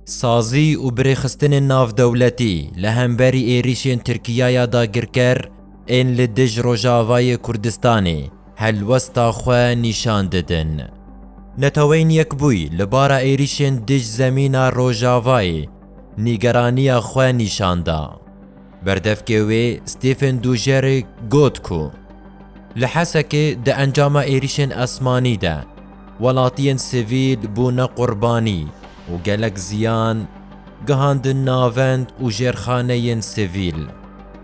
Sazî û birêxistinên navdewletî li hemberî êrîşên Tirkiya ya dagirker ên li dij Rojavayê Kurdistanê helwesta xwe nîşan didin. Neteweyên Yekbûyî li bara êrîşên dij zemîna Rojavayê nîgeraniya xwe nîşan da. Berdevkê wê Stephen Dujarric got ku li Hesekê di encama êrîşên esmanî de Welatiyên sivîl bûne qurbanî û gelek ziyan gihandin navend û jêrxaneyên sivîl,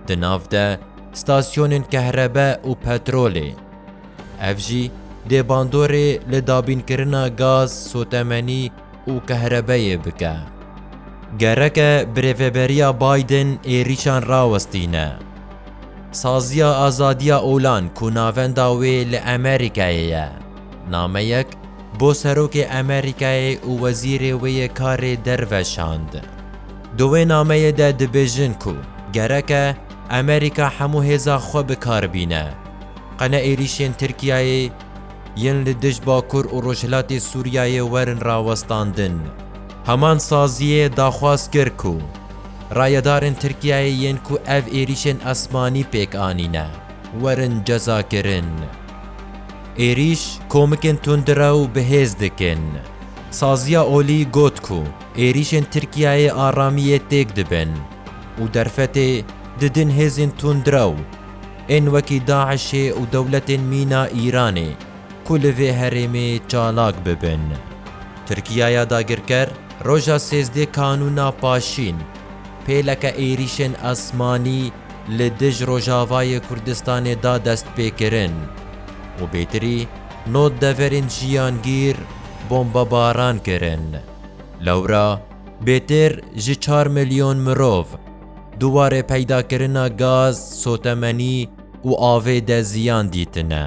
di nav de stasyonên kehrebe û petrolê. Ev jî dê bandorê li dabînkirina gaz, sotemenî û kehrebeyê bike. Gereke birêveberiya Biden êrîşan rawestîne. Saziya Azadiya Olan ku navenda wê li Amerîkayê ye, Nameyek bo Serokê Amerîkayê û Wezîrê wê yê Karê Derve şand. Di wê nameyê de dibêjin ku gerek e Amerîka hemû hêza xwe bi kar bîne, qene êrîşên Tirkiyeyê yên li dij Bakur û Rojhilatê Sûriyeyê werin rawestandin. Heman saziyê daxwaz kir ku rayedarên Tirkiyeyê yên ku ev êrîşên esmanî pêk anîne, werin cezakirin. Êrîş komikên tundrew bi hêz dikin. Saziya Olî got ku êrîşên Tirkiyeyê aramiyê têk dibin û derfetê didin hêzên tundrew ên wekî DAIŞ'ê û dewletên mîna Îranê ku li vê herêmê çalak bibin. Tirkiyeya dagirker roja sêzdê kanûna paşîn pêleke êrîşên esmanî li dij Rojavayê Kurdistanê da destpêkirin û bêtirî nod deverên jiyangîr bombebaran kirin. Lewra bêtir ji çar milyon mirov di warê peydakirina gaz, sotemenî û avê de ziyan dîtine.